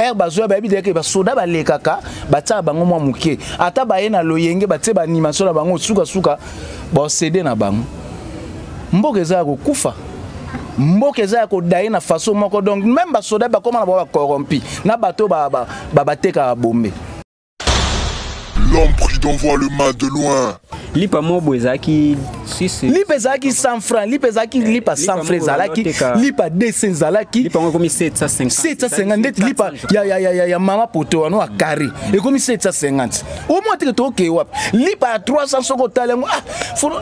ere bazoya bayebi deke basoda balekaka batiaka bango mwa moke ata baye na loyenge batie baanimation na bango sukasuka baosede na bango mboka eza ya kokufa mboka eza ya kodaye na façon moko donc meme basoda bakoma na bango bacorrompi na bato batekaka ba, ba, ba bombe L'homme prudent voit le mal de loin. lipa moko boye ezalaki lipa ezalaki 100 franc lipa ezalaki eh, lipa 100 franc ezalaki lipa 200 ezalaki lipa yango ekomi 750 ndeti lipa ya, ya, ya, ya, ya mama poto wana ya carré mm. ekomi 750 omoi teke tokee wapi lipa ya 300 soki otali yango ah,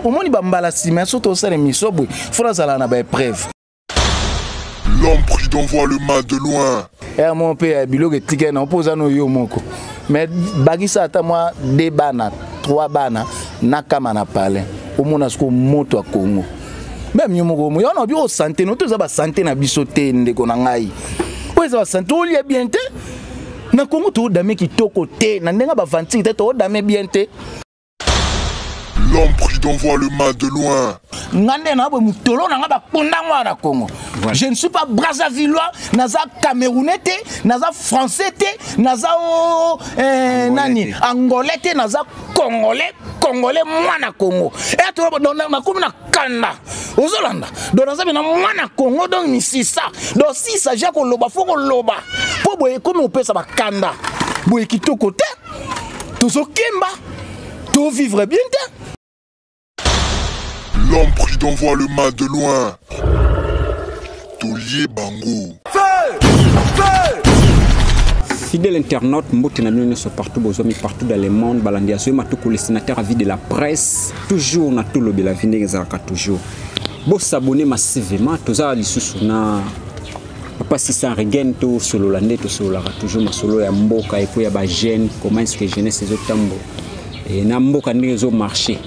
omoni bambala nsima ya soki tosala emission boye fona azala na baepreuve L'homme prudent voit le mal de loin. Eh mon père, biloko etikali na mpo oza no yo moko mais bakisa ata mwa de bana trois bana nakama na palais omona sikoyo moto ya kongo meme yo moko moyo wana obi osante no to eza basante na biso te ndeko na ngai oyo eza basante olia bien te na kongo toodame kitoko te na ndenge bavantiki te toodame bien te L'homme prudent voit le mal de loin. nga nde na boye motolo na nga baponda ngo na congo voilà. je ne suis pas brazzavillois naza camerounais te naza français te naza o eh, nani angolais te naza congolais congolais mwana congo nakomi na kanda ozolanda don naza bena mwana congo donc misisa don sisa ja koloba fo koloba mpo boye ekomi kopesa bakanda boye kitoko te tozokemba tovivre bien te l'homme prudent voit le mal de loin tolie bango fidèle internaute mbote na bino nyonso partout bozwami partout dans le monde balandi ya zoyema toko le sénateur avis de la presse toujours na tolobela vi ndenge ezalaka toujours bosabone massivement toza lisusu na Papa Sissan Regen to solola nde to sololaka toujours masolo ya mboka et puis ya ba jeunes comment est-ce que jeunesse ezo tambo et na mboka ndenge ezo marcher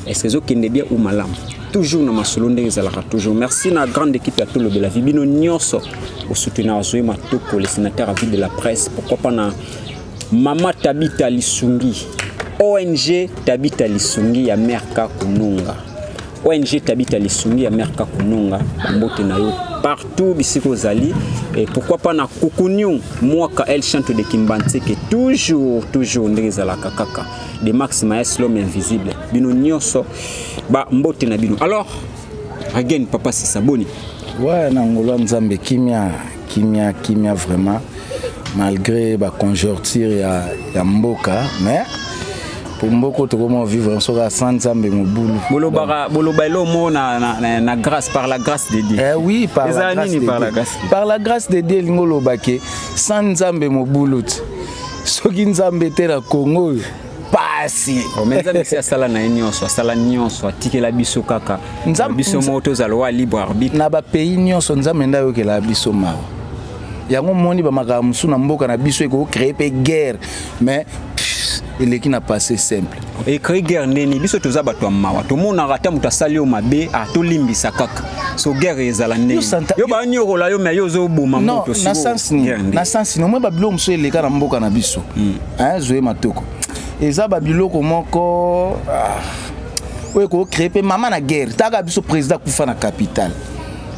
est-ce que ezo kende bien ou malamu toujours na masolo ndenge ezalaka toujours merci na grande équipe ya tolobela vi bino nyonso osoutenir azwi matoko le sénateur à vie de la presse pourquoi pas na mama tabita lisungi ong tabita lisungi ya merka kununga ONG Tabita Lisungi ya Mère Kakununga, mbote na yo partout bisika ozali et pourquoi pas na Kukuniu mwaka El Chanto de Kimbanseke toujours toujours ndenge ezalaka kaka de Max Maes l'homme invisible bino nyonso ba mbote na bino alors again papa Sisa boni ouais na ngolo nzambe kimia kimia kimia vraiment malgré ba conjoncture ya, ya mboka mais po mboko tokoma vivre soki asa nzambe mobulu bolobaka boloba elo mo na, na, na, na grâce par la grâce de dieu eh oui par la grâce de par la grâce par la grâce de dieu elingi olobake sans nzambe mobulu ti soki nzambe te na kongo oyo pasi oh, mais nzambe si asala na ye nyonso asala nyonso atikela biso kaka biso moko tozala wa libre arbitre na bapays nyonso nzambe nde ayokela biso mawa yango omoni bamakambo mosusu na mboka na biso ekocree mpe guerre mais eleki na passé simple ecree guerre ndeni biso toza bato ya mawa tomonaka ata moto asali yo mabe ah, tolimbisa kaka so guerre ezala ndeni yo banyokola yo me yo ozoboma moto na sense nini omoi babiloko mosusu eleka na mboka na biso hmm. hein zoe matoko eza ba biloko moko ah, oyo ko créer pe mama na guerre taka biso président kufa na capitale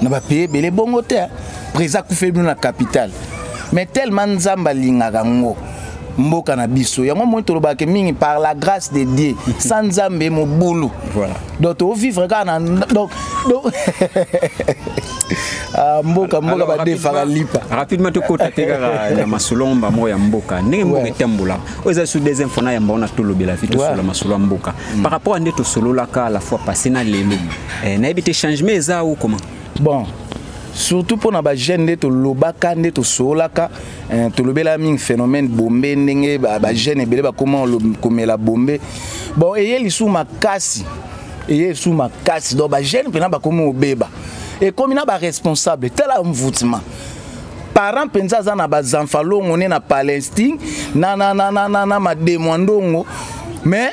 na ba pays belé bongo te hein. président kufa bino na capitale mais tellement nzambe alingaka ngo mboka na biso yango moi tolobaka mingi par la grâce de dieu sans nzambe mobulu voilà. donc tokofivre kaka na donc, donc Ah, mboka mboka badefaka lipa rapidement tokota te kaka na masolo yango bango ya mboka ndenge mboka etambola oyo eza sur deuxième fois na yamba wana tolobela fi tosolola masolo ya mboka mm. par rapport ya nde tosololaka la fois passé na lelo eh, nayebi te changement eza o comment bon surtout mpo na bajeune nde tolobaka nde tosololaka eh, tolobela mingi phénomène bombe ndenge bajeune ebele bakoma komela bombe bon eye lisusu makasi eye esu makasi donc bajeune mpena bakomi obeba ekomi na baresponsable tala envoutiment parent mpenza aza na bazanfalongo ne na palestine na, na, na, na, na, na mademo ya ndongo mais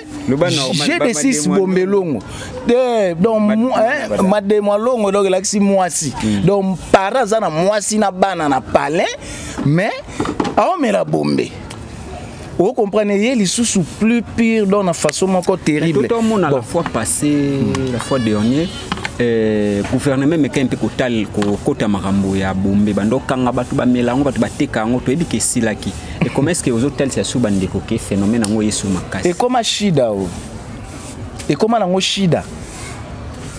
j'ai des six bombelongo te donc mademo ya longo donc elakisi mwasi hmm. donc para aza na mwasi na bana na palais mais aomela bombe o comprendre ye lisusu plus pire donc na façon moko terrible tout omona bon. la fois passée la fois dernier eh, gouvernement emekaki mpe kotal kokota makambo ya bombe bando okanga bato bamela yango bato bateka yango toyebi ke esilaki ekoma eske ozotalisa su bandeko ke phénomène yango yesu makasi ekoma shida o ekoma nango shida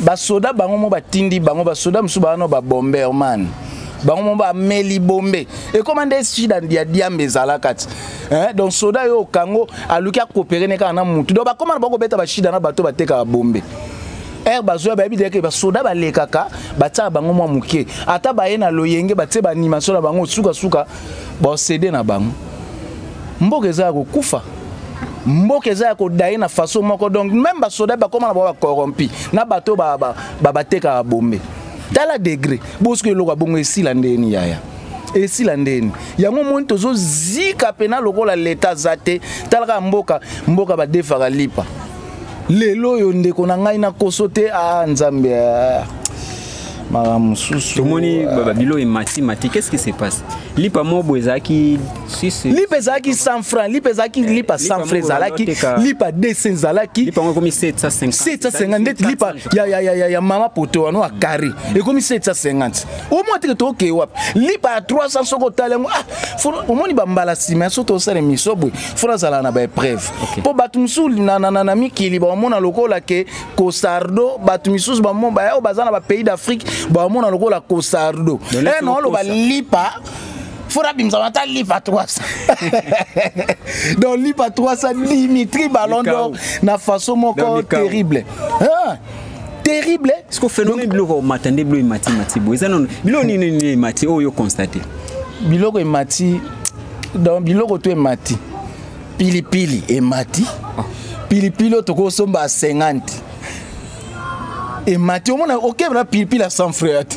basoda bango mo batindi bango basoda mosusu bawana babomberman bango mo bameli bombe ekoma nde sida ya diambe ezalaka ti donc soda yo okango aluki akopere ne kaka na motu donc bakoma na bakobeta bashida na bato batekaka bombe ere bazoya bayebi te ke basoda balekaka batiaka bango mwa moke ata baye na loyenge batie baanimation na bango sukasuka baosede na bango mboka eza ya kokufa mboka eza ya kodaye na faso moko donc meme basoda bakoma na bango bacorrompi na bato batekaka bombe tala degre bosuki eloko ya bongo esila ndeni yaya esila ndeni yango omoni tozozika mpena lokola leta aza te talaka mboka mboka badefaka lipa lelo oyo ndeko na ngai na koso te a ah, nzambe ah. makambo mosusu tomoni babilo emati mati qu'est ce qui se passe lipa mobo ezalaki si, si, lipa ezalaki 100 francs lipa ezalaki eh, lipa 100 francs ezalaki lipa 200 ezalaki lipa yango ekomi 750 ndeti lipa ya, ya, ya, ya, ya mama poto wana ya carré mm. ekomi 750 omoi teke tokee wapi lipa ya 300 soki otali yango ah, omoni bambala nsima ya soki tosala emission boye fona azala na baepreuve mpo okay. bato mosusu na, na, na, na mikili bamona lokola ke kosardo bato misusu bamo bayaoyo baza na bapays d'afrique bamona lokola kosardo e eh, naoloba lipa fora bimzama ata lipa 300 donc lipa 300 dimitri ballon d'or na façon moko terrible hein? terrible ce que phénomène biloko omata nde biloko emati mati boye eza nono biloko nini nini emati oyo yo constate biloko emati donc biloko to emati pilipili emati ah. pilipili oyo tokosomba 50 emati omona okebela pilipili ya 100 frere te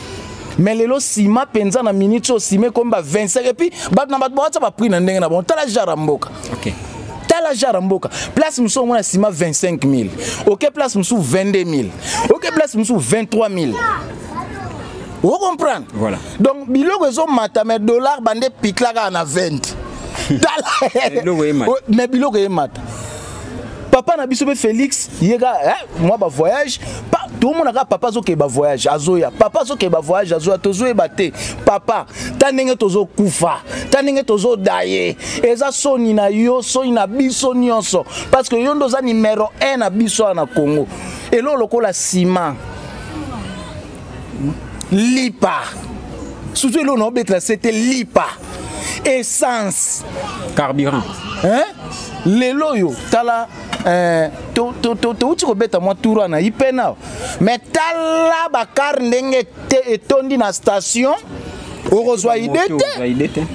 mais lelo sima mpenza na minute oyo sima ekomi ba 25 epuis bato na bato bawatya baprix na ndenge na bango tala jara mboka okay. tala jara mboka place mosusu omona sima 25 000 oke place mosusu 22 000 oke place mosusu 23 000 o comprendre voilà. donc biloko ezomata mais dollar bande piklaka na 20 tala mais biloko eyemata papa na biso mpe felix ye ka eh, mwa bavoyage pa, tomonaka papa azokee bavoyage azoya papa azokee bavoyage azoya tozoyeba te papa ta ndenge tozokufa ta ndenge tozodaye eza soni na yo soni na biso nyonso parce que yo nde oza numero 1 na biso awa na congo eloo lokola nsima lipa surtout eloko na obetela se te lipa essence carburant hein? lelo oyo tala eh, touti kobeta mwa tour wana ipena me tala bakar ndenge etondi na station okozwa ide te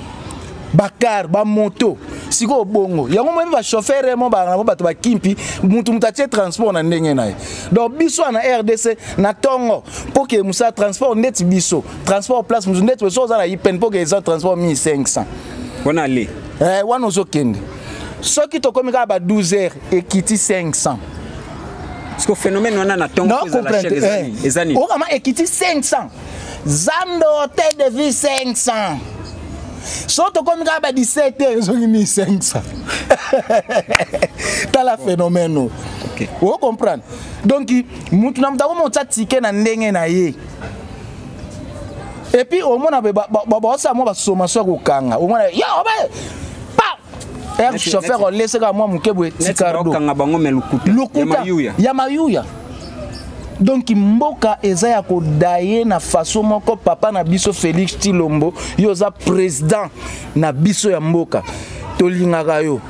bakar bamoto sikoyo bongo yango moyebi bashofere mo bango bato bakimpi motu moto atie transport na ndenge na ye donc biso wana rdc na ntongo mpo ke mosala transport ndeti biso transport place mosusu ndeti biso oza na ipen mpo ke eza transport 1500 wana ale eh, wana ozokende soki tokomi kaka ba 12 heures ekiti 500 siko phénomène wana na ntongo ezala chère ezali eh, ezali okama ekiti 500 zambe hotel de vie 500 so tokomi kaka ba 17 te ezongi 1500 tala phénomène oyo okay. o comprendre donc mutu na moto akoma otya tike na ndenge na ye epuis omona baosala mwa basommation ya kokanga omona yo obe er chauffeur olese kaka mwa moke boye tikardookanga bango me lokuta lokuta ya mayuya donk mboka eza ya kodaye na faso moko papa na biso félix tilombo yo oza président na biso ya mboka tolingaka yo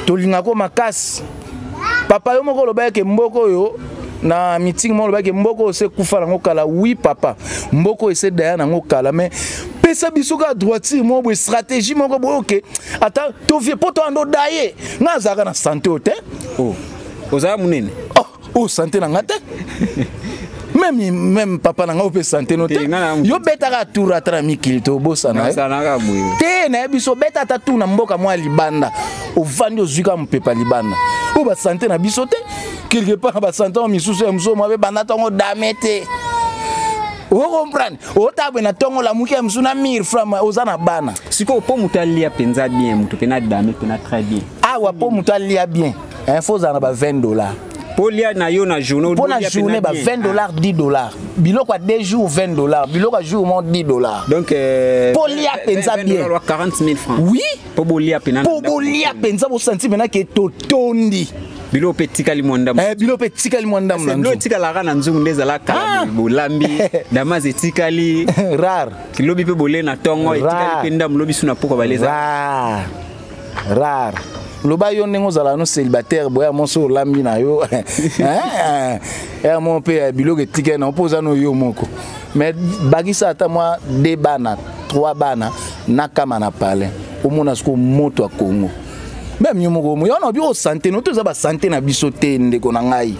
tolingaka yo makasi papa yo moko olobaki ke mboka oyo na meeting moko olobaki mboka oyo se kufa nango kala wi papa mboka oyo ese daya nango kala mais pesa biso kaka droitire moko boye stratégie moko boye oke ata tovie mpo toyanda odaye ngai azalaka na sante oyo te oh, ozala monene oh, oyo oh, sante na ngai te meme meme papa na ngai ope sante no te yo betaka tour ata na mikili te obosana eh? te nayebi biso beta ata tour na mboka mwa libanda ovandi ozwi ka mopepa libanda oyo basante na biso te quelque part basante yango misusu ya mosusu mabe banda ntango dame te okomprendre otabwe na ntongo lamuki ya mosusu na mire frama oza na bana sikoyo mpo moto alia mpenza bien moto mpe na dame mpe na très bien awa mpo moto alia bien info ozala na ba 20 dollars polia na yo na journée mpo na journée ba 20 ah. dollars 10 dollars biloko ya 2 jours 20 dollars biloko ya jour mo 10 dollars donc euh, polia mpenza bien 40 000 francs oui mpo bolia mpenza mpo bolia mpenza bosanti mpenza ke totondi bilo mpe etikali mwa ndambo eh, bilo mpe etikali mwa ndambo na bilo etikalaka na nzungu nde ezalaka ah! bolambi damas etikali rare lobi mpe bole na ntongo etikali mpe ndambo lobi su na pokwa baleza rare loba yo ndenge ozala no célibataire boya mo so olambi na yo eh, eh, ya mo mpe ya biloko etikali na mpo oza no yo moko mais bakisa ata mwa de bana trois bana na kama na palais omona siko moto ya kongo meme yo moko yo na bio sante no to eza basante na biso te ndeko na ngai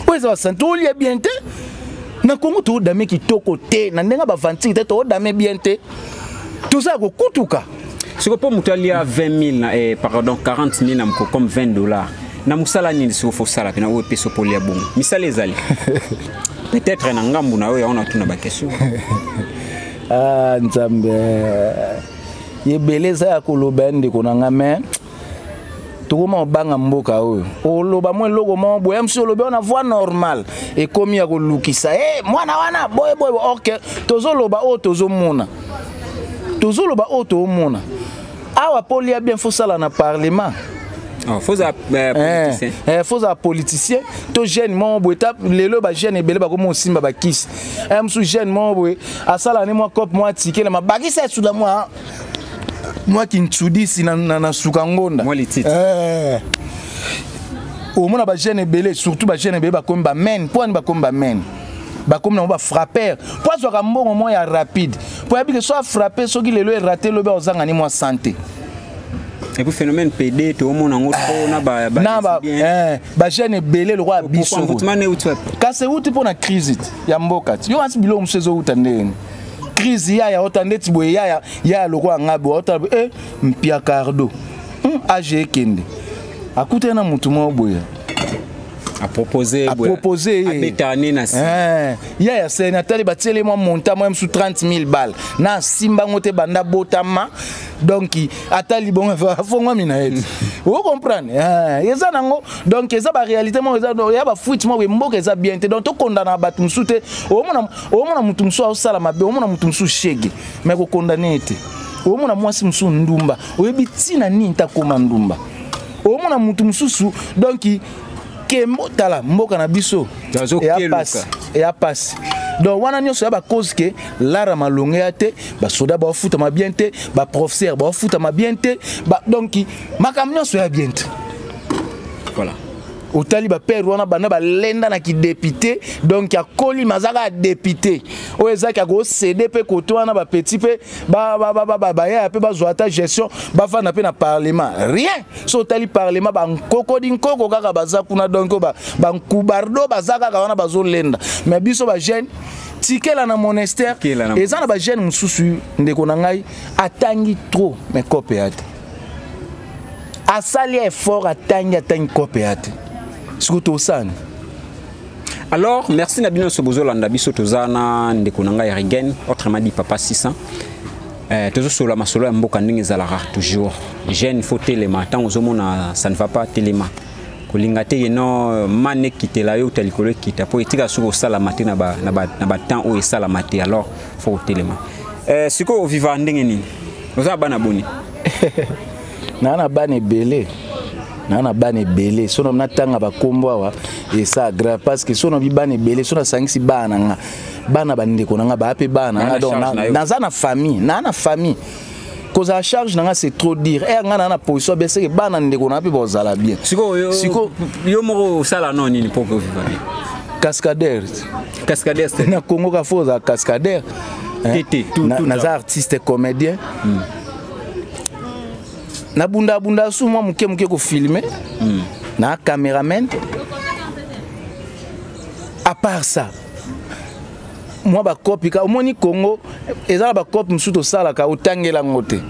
oyo eza basante olia bien te na kongo toodame kitoko te na ndenge bavantiki te toodame bien te tozala kokutuka siko mpo moto alia 20000 na eh, pardon 40000 na moko comme 20 dollars na mosala nini siko fosala mpena oyo epesa mpo olia bongo misala ezali peut-être na ngambo na yo yango natuna bakestion ah, nzambe ebele eza ya koloba ya ndeko na ngai mai tokoma obanga mboka oyo oloba mwa eloko moko boye mosusu olobi wana voix normal ekomi ya kolukisa e eh, mwana wana boye boye ok tozoloba oyo tozomona tozoloba oyo toomona awa mpo olia bien fosala na parlement Oh, faut à euh, politicien. Eh, eh, faut à politicien. To jeune mon boy tap lelo ba jeune ebele ba komo simba ba kiss. Em eh, su jeune mon boy asala ne moi cop moi ticket ma bagisa sous la moi. mwa kinsudisi na, na, na suka ngonda mwa lititi eh. omona bajeune ebele surtout bajeune ebele bakomi bamene mpo ani bakomi bamene bakomi nango bafrappeur mpo azwaka mbongo mwa ya rapide mpo yabi ke so afrappe soki lelo erate lobi aozanga ni mwa sante et puis phénomène PD toomona yango trop na ba na ba eh, ba jeune ebele lokola biso kasi euti mpo na crise ya mboka ti yo kasi biloko mosusu ezouta ndenge crise yaya ota ndeti boye yaya yaya lokola ngai boye ota boye eh, mpia cardo hmm, age ekende akutani na motu moko boye apropose ye eh, yaya seni atali batieli mwa monta mwa mosusu 30 000 bale na asimba yango te banda botama donc ata libongo afongwami na ye o comprendre eh, eza nango donc eza baréalité moko eza ya bafuite moko mboka eza bien te donc tokondana bato mosusu te omona omona motu mosusu aosala mabe omona motu mosusu shege me kokondane ye te omona mwasi mosusu ndumba oyebi ntina nini ntakoma ndumba omona motu mosusu donki kembo tala mboka na biso eya pasi donc wana nyonso ya bacause ke lara malonge ya te basoda baofutama bien te baprofesseur baofutama bien te donc makambo nyonso ya bien te voilà otali ba père wana banda balenda na kidepite donc akoli mazaka ya depute oyo ezaki akosede mpe koto wana bapetit mpe bayaya mpe bazwa ata gestion bafanda mpe na parlement rien so otali parlement bankokodi nkoko kaka baza kuna donc bankubardo baza kaka wana bazolenda mais biso bajeune tikela na monastère eza na bajeune mosusu ndeko na ngai atangi trop mais kope ya te asali effort atangi atangi kope ya te sikoyo tosani alors merci na bino nyonso bozolanda biso toza na ndeko na ngai regen autrement dit papa 600 eh, tozosolola masolo ya mboka ndenge ezalaka toujours jeune faut telema ntango ozomona ça ne va pas telema kolinga te ye no mane ekitela yo uta likolo ekita mpo etika soki osalama te na batemps oyo esalama te alors faut kotelema eh, sikoyo oviva ndenge nini oza na bana boni naa na bana ebele naa na bana ebele so nabi natanga bakombo awa esa grave parce que so nabi bana ebele so nasangisi bana na nga bana bandeko na nga baa mpe bana na nga donc naza na famille naa na famille kozala charge na nga c'est trop dire ere eh, ngai naa na position ya bien seke bana ndeko na nga mpe bazala bien sikoyo yo moko osala no nini mpo okoviva bien cascadeur cascadeur na congo kafo ozala cascadeur naza artiste comédien hmm. nabundabunda su mwa moke moke kofilme hmm. na cameraman à part ça mwa bakopi ka omoni congo eza na bakopi mosusu tosalaka otangela yango te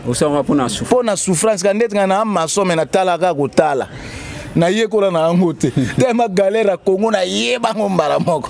osalaka mpo na souffrance ka ndeti ngai na masome natalaka kotala nayekola na yango te tema galere ya congo nayebango mbala moko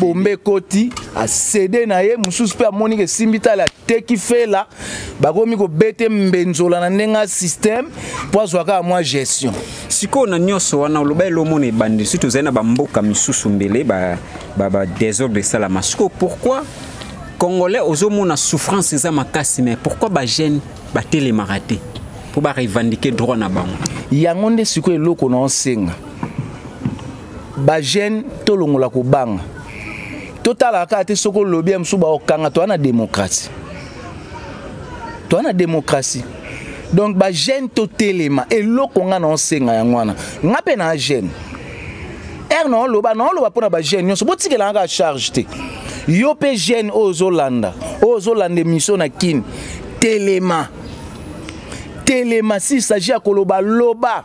bombe ekoti asede na ye mosusu mpe amoni ke esimbi tala ateki fela bakomi kobete mbenzola na ndenge ya système mpo azwa kaka mwa gestion sikoyo na nyonso wana oloba elomona ebandi soki tozali na bamboka misusu mbele badésordre ba, ba esalama sikoyo pourquoi congolais ozomona souffrance eza makasi mais pourquoi bagene batelemaka te mpo barevendike droit na bango yango nde sikoyo eloko na osenga ba jeune tolongola kobanga totalaka kaka te soki olobi ya mosusu baokanga toa na démocratie toa na démocratie donc ba jeune totelema eloko nga na osenga yango wana nga mpe na jeune r naoloba naoloba mpo na ba jeune nyonso botikelanga kaka charge te yo mpe jeune oyo ozolanda oyo ozolanda émission na kini telema telema s'il s'agit ya koloba loba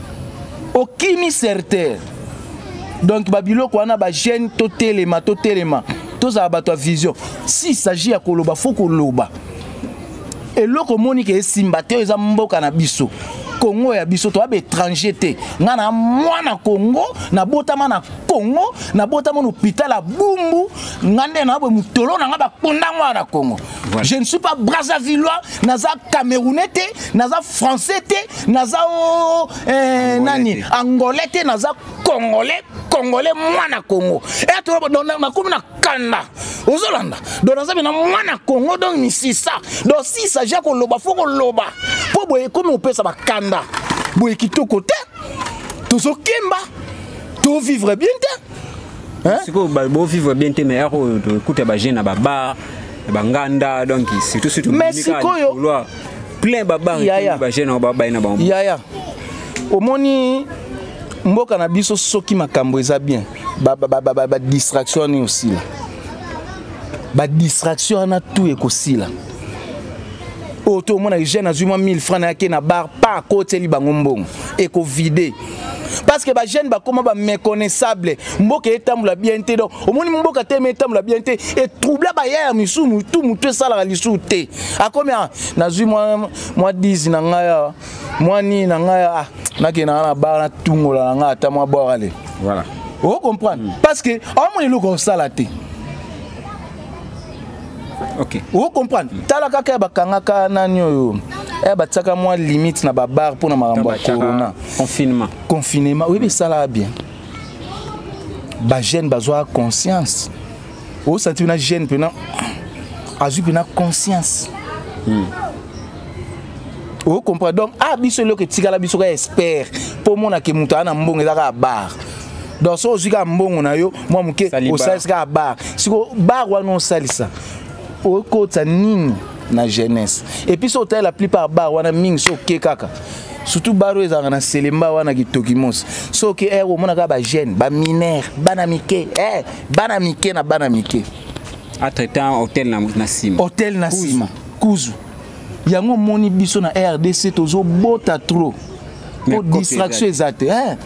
okimi certain donc babiloko wana bagene totelema totelema tozala bato ya vision si s'agit ya koloba fo koloba eloko omoni ke esimba te oyo eza mboka na biso kongo ya biso toya baétranger te ngai na mwana kongo nabotama na kongo nabotama na hôpital ya bumbu ngai nde na boye motolo na ngai bakonda ngai na kongo Voilà. Je ne suis pas Brazzavillois, naza Camerounais te, naza Français te, naza oh, eh, nani Angolais te, naza Congolais, Congolais mwana Congo. Et eh, toi donc na comme na kanda. Ozolanda. Donc naza bina mwana Congo donc ni sisa. Donc si ça ja ko loba faut ko loba. Po boye comme on peut ça ba kanda. Boye kitoko te. Tozokemba. To vivre bien te. sikoyo bovivre bien te mais yako oyo tokuta bajeune na babar na banganda donc surtout surtout mais sikoyo plein babar bajeune yango babai na bango yaya omoni mboka na biso soki makambo eza bien badistraction wana osila badistraction wana tu ekosila oyo to omona jeune azwi mwa 1000 francs nayaki na bar pa akoteli bango mbongo ekovide parce que bajeune bakoma baméconnaissable mboka etambola bien te donc omoni mboka teme etambola bien te etroubla bayaya misusu motu motu esalaka lisusu te akomi ah, nazwi mwa 10 na ngai awa mwa nini na ngai ah, nakenda nga na bar natungola na ngai ata mwa bwakale voilà o comprendre mm. parce que aomona eloko osala te okay. o comprendre mm. tala kaka ya bakangaka nani oyo eh, batiaka mwa limite na babar mpo na makambo ya corona confinement confinement oyebi esalaka bien bajeune bazwaka conscience osanti mpena jeune mpena azwi mpena conscience mm. ocomprend donc a ah, biso eloko etikala biso kaka espere mpo omonake moto aa na mbongo eza kaka bare donc soki ozwi kaka mbongo na yo mwa moke osalisi kaka bar siko bar wana osalisa okotisa nini na jeunesse epuis soki otali la plupart bar wana mingi soki oke kaka surtout bar oyo ezalaka na selemba wana kitoki mosi soki ere eh, omonaka bajeune baminere bana mike eh, bana mike na bana mike atretan hotel na nsima hotel na nsima kuzu yango omoni biso na rdc tozobota trop mpo distraction eza te eh.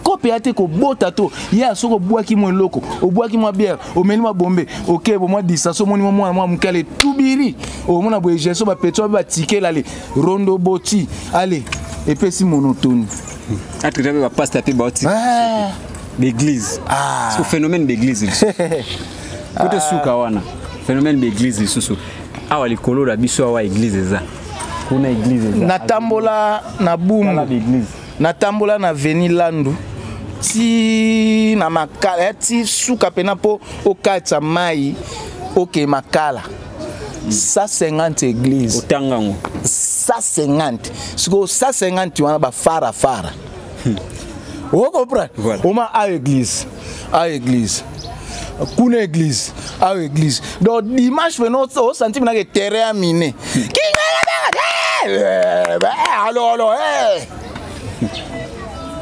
kope ya te kobota to ya soki obwaki mwa eloko obwaki mwa biere omeli mwa bombe oke bomwa distraso omoni mwa mwana mwa moke ale tubiri omona boye geso bapetso babe batikela ale rondo boti ale epesi monotoni atreta mpe bapasta mpe baotika ah. baeglise ah. so phénomène baeglise lisusu kote suka wana phénomène baeglise lisusu awa likolo na biso awa eglise eza kuna eglise eza natambola na bumu natambola na veni landu ti na makala ya ti suka mpena mpo okatisa mai oke makala 150 église otanga yango 150 sikoyo 150 wana bafara fara hmm. okoprendre voilà. oma a église a église kuna église awa église donc dimanche pena osanti minaka terrain ya mine alolo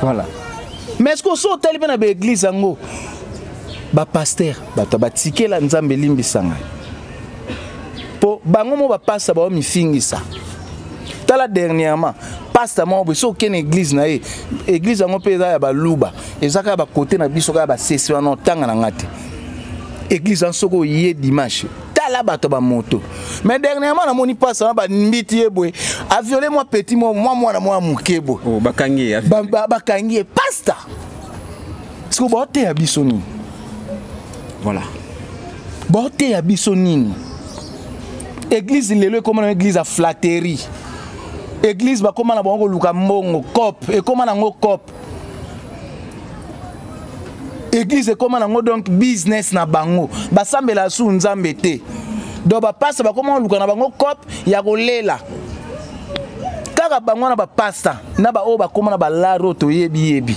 voilà mais est ce que osi otali mpe na baeglise yango bapaster bato batikela nzambe elimbisa ngai mpo bango mo bapasta bao mifingisa tala dernièrement pasta moko boye soki okende église na ye église yango mpe eza ya baluba eza kaka bakote na biso kaka basesi wana otanga na ngai te église wana soki oye dimanche tala bato bamoto mais dernièrement namoni pasta wana bambiti ye boye aviole mwa petit mwa mwana mwa moke boye oh, bakangi ye pasta siko baoteya biso nini voilà baoteya biso nini église lelo ekoma na église ya flatterie église bakoma na bango koluka mbongo cop ekoma nango cop église ekoma nango donc business na bango basambela su nzambe te donc bapasta bakoma koluka na bango cop ya kolela kaka bango na bapasta na baoyo bakoma na balare oyo toyebiyebi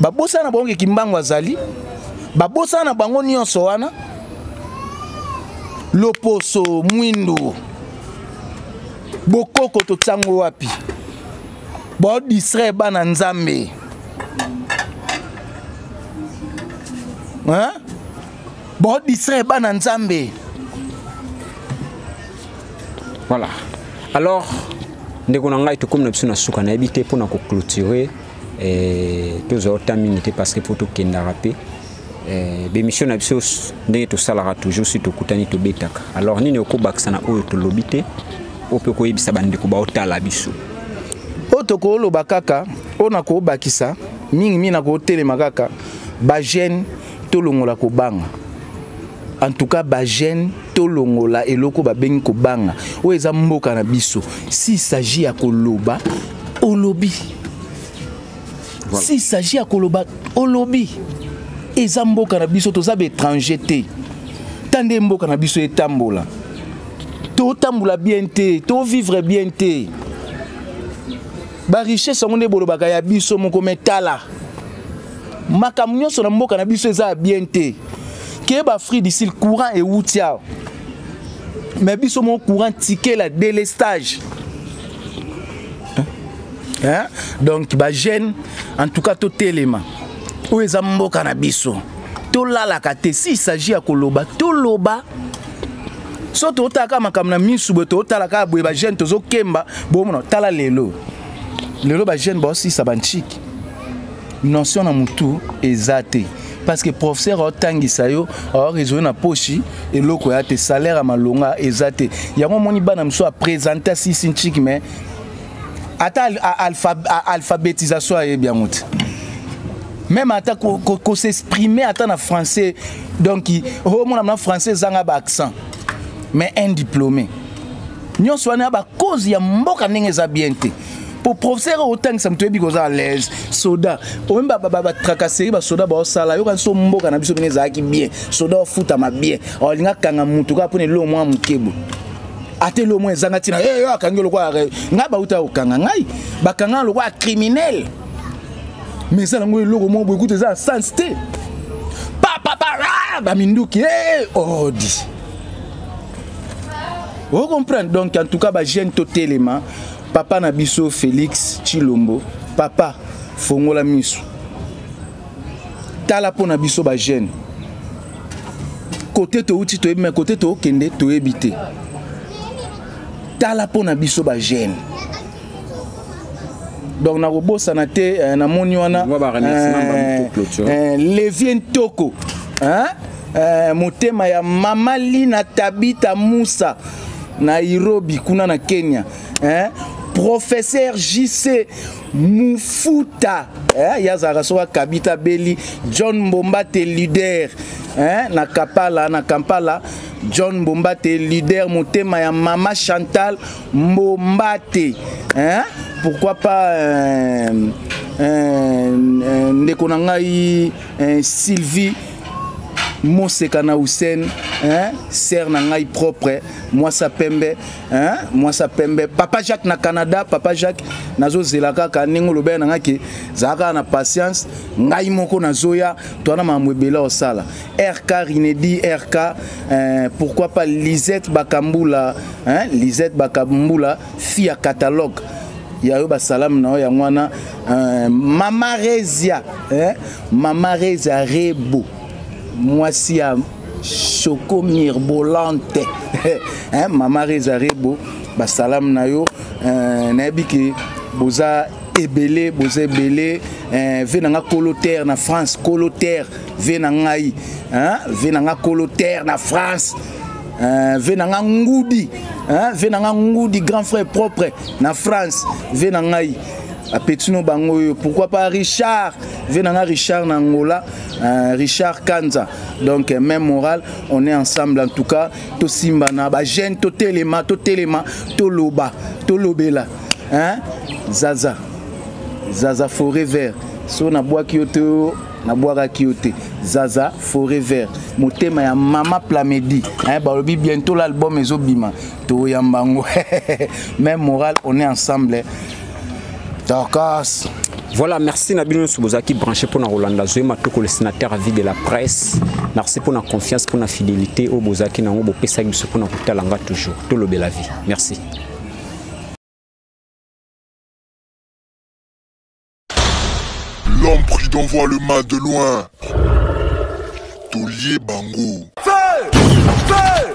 babosana na bango ke kimbangu azali babosana na bango nyonso wana loposo mwindu bokoko totiango wapi baodistraire bana nzambe baodistraire bana nzambe voilà alors ndeko na ngai tokomi na biso na suka nayebi te mpo na koclôturer eh, tozwa ota mingi te parce que mpo tokendaka mpe eh, bemission na biso ndenge tosalaka toujours si tokutani tobetaka alors nini okobakisa na oyo tolobi te oyo mpe koyebisa bandeko baotala biso oyo tokoloba kaka oyo nakobakisa mingimingi nakotelema kaka bajeune tolongola kobanga en tout cas bagene tolongola eloko babengi kobanga oyo eza mboka na biso s'il s'agit ya koloba olobi voilà. s'il s'agit ya koloba olobi eza mboka na biso toza baétranger te ta nde mboka na biso etambola totambola bien te tovivre bien te ba richesse yango nde bolobaka ya biso moko me tala makambo nyonso na mboka na biso eza ya bien te keba afrique du sud courant ewuti awa me biso moko courant tikela delestage hein? donc bagene en tout cas totelema oyo eza mboka na biso tolalaka te si il s'agit ya koloba toloba so totala kaka makambo na misu boye totala kaka boye bajeune tozokemba bomona tala lelo lelo bajeune baosisa bantshiki notion na motu eza te parce que professeur aotangisa yo aoresone na poshi eloko ya te salaire ya malonga eza te yango omoni bana mosusu apresente asisi ntshiki mais ata alpha, alphabetisation ayebi yango te même ata kosexprime ata na français donc omona oh, na français ezanga baaccent mais un diplômé nyonso wana ya bacause ya mboka ndenge eza bien te mpo professeur oyo otangisa moto oyebi koza alaise soda oyebi batracasserie basoda baosala yoka nso mboka na biso bino ezalaki bien soda ofutama bien olinga kanga motu kaka mpona eloo mwa mokebo ata elo mwa ezanga ntina eyo eh, akangi lokola ngai bauta kokanga ngai bakanga lokola criminel mais ezala yango eloko moko boyekuta eza sans te papapara baminduki eh, odi oh, ocomprendre donc en tout cas bajeune totelema papa na biso félix chilombo papa fongola miso tala mpo na biso bajeune kote touti toyebi me kote tookende toyebi te tala mpo na biso bagene donc nakobosana te eh, namoni wana eh, eh, levier ntoko motema ya mama lina tabita musa nairobi kuna na kenya professeur jc mufuta eh, ye azalaka soki akabita abeli john mbomba te leader eh, na kapala na kampala john mbomba te leader motema ya mama chantal mbomba te eh, pourquoi pas eh, eh, eh, ndeko na ngai eh, sylvie moseka na hussein eh, sere na ngai propre mwasa pembe hein? mwasa pembe papa jacques na canada papa jacques nazozela kaka ndenge olobela na ngai ke zala kaka na patience ngai moko nazoya toana makambo ebele osala rk rinedi rk eh, pourquoi pas lisette bakambula hein? lisette bakambula fi ya catalogue ya yo basalamu na yo yango wana eh, mama resia eh? mama resia rebo mwasi ya choco mirbolante hein, mama reza rebo basalamu na yo euh, nayebi ke boza ebele boza ebele eh, ve na nga kolo terre na france kolo terre ve na ngai hein? ve na nga kolo terre na france eh, ve na nga ngudi hein? ve na nga ngudi grand frère propre na france ve na ngai apetino bango oyo pourquoi pas richard ve na nga richard na angola Euh, Richard Kanza donc euh, même morale on est ensemble en tout cas to simbana ba jeune to telema to telema to loba to lobela hein Zaza Zaza forêt vert so na bois qui yo nabwakaki yo te zaza foret vert motema ya mama plamedi eh, balobi bientôt l'album ezobima toyamba yango meme moral on est ensemble dorcas voilà merci na bino nyonso bozalaki branché mpo na kolanda zoe matoko le sénateur avis de la presse merci mpo na confiance mpo na fidélité oyo bozalaki na yango bopesaki biso mpo na kotala nga toujours tolobela vie merci L'homme prudent voit le mal de loin. Tolier Bango. Feu! Feu!